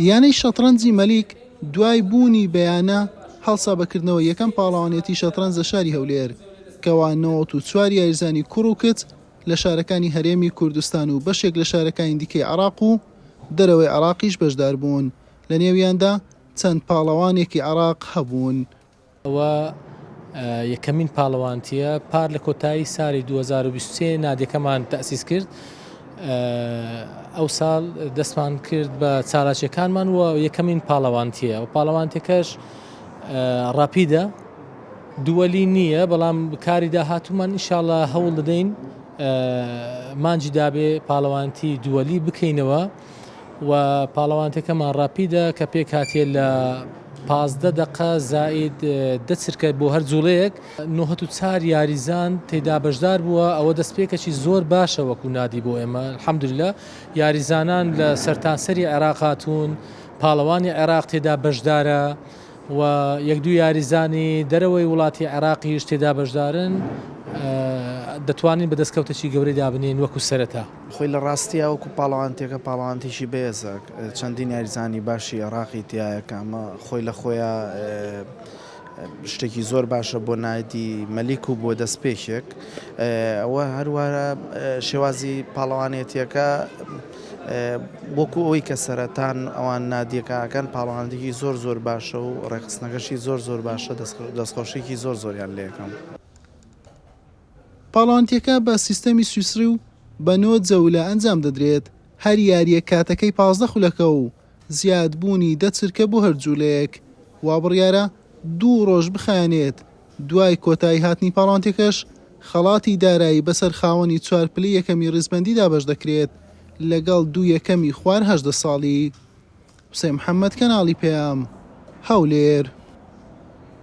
یانەی شەتڕەنجی مەلیک دوای بوونی بە یانە هەڵسا بە کردنەوەی یەکەم پاڵەوانێتی شەتڕەنج لە شاری هەولێر، کەوا نەوەد و چوار یاریزانی کوڕ و کچ لە شارەکانی هەرێمی کوردستان و بەشێک لە شارەکانی دیکەی عێراق و دەرەوەی عێراقیش بەشداربوون، لەنێویاندا چەند پاڵەوانێکی عێراق هەبوون. ئەوە یەکەمین پاڵەوانتییە پار لە کۆتایی سالی دوو هەزار و بیست و سێ نادیەکەمان تەسیس کرد ئەوساڵ دەستمان کرد بە چالاکیەکانمان و یەکەمین پاڵەوانتییە و پاڵەوانتەکەش ڕاپیدە دووەلی نییە بەڵام بکاری داهاتومان ئیشاڵە هەوڵ دەدەین مانجی دابێ پاڵەوانتی دووەلی بکەینەوە. و پاڵەوانتێکەمان ڕاپیدە کە پێکهاتیە لە پازدە دەقە زائید دە چرکە بۆ هەر جوڵەیەک نۆهەت و چار یاریزان تێدا بەشدار بووە ئەوە دەستپێکەکی زۆر باشە وەکو نادی بۆ ئێمە الحمدللە یاریزانان لە سەرتاسەری عێراق هاتوون پاڵەوانی عێراق تێدا بەشدارە و یەک دوو یاریزانی دەرەوەی وڵاتی عێراقیش تێدا بەشدارن دەتوانین بە دەستکەوتەکی گەورەی دابنین وەکو سەرەتا. خۆی لە ڕاستیا وەکو پاڵەوانتیەکە پاڵەوانتیی بەێزە، چەندین یاریزانی باشی ئێڕاقی تیایە کە ئەمە خۆی لە خۆیا شتێکی زۆر باشە بۆ نایدی مەلیک و بۆ دەستپێکێک ئەوە هەروارە شێوازی پاڵەوانێتیەکە وەکو ئەوی کە سەرەتان ئەوان نادیەکەکەن پاڵەوانێکی زۆر زۆر باشە و ڕێخستنەکەشی زۆر زۆر باشە دەستخۆشێکی زۆر زۆریان لەکەم. پاڵەوانتیەکە بە سیستەمی سویسڕی و بە نۆ جەولە ئەنجام دەدرێت، هەر یاریەک کاتەکەی پازدە خولەکە و زیاد بوونی دە چرکە بۆ هەر جولەیەک، وابڕیارە دوو ڕۆژ بخایەنێت، دوای کۆتایی هاتنی پاڵەوانتیەکەش خەڵاتی دارایی بەسەر خاوەنی چوار پلی یەکەمی ڕیزبەندی دابەش دەکرێت لەگەڵ دوو یەکەمی خوار هەژدە ساڵی. حوسێن محەمەد کەناڵی پەیام. هەولێر.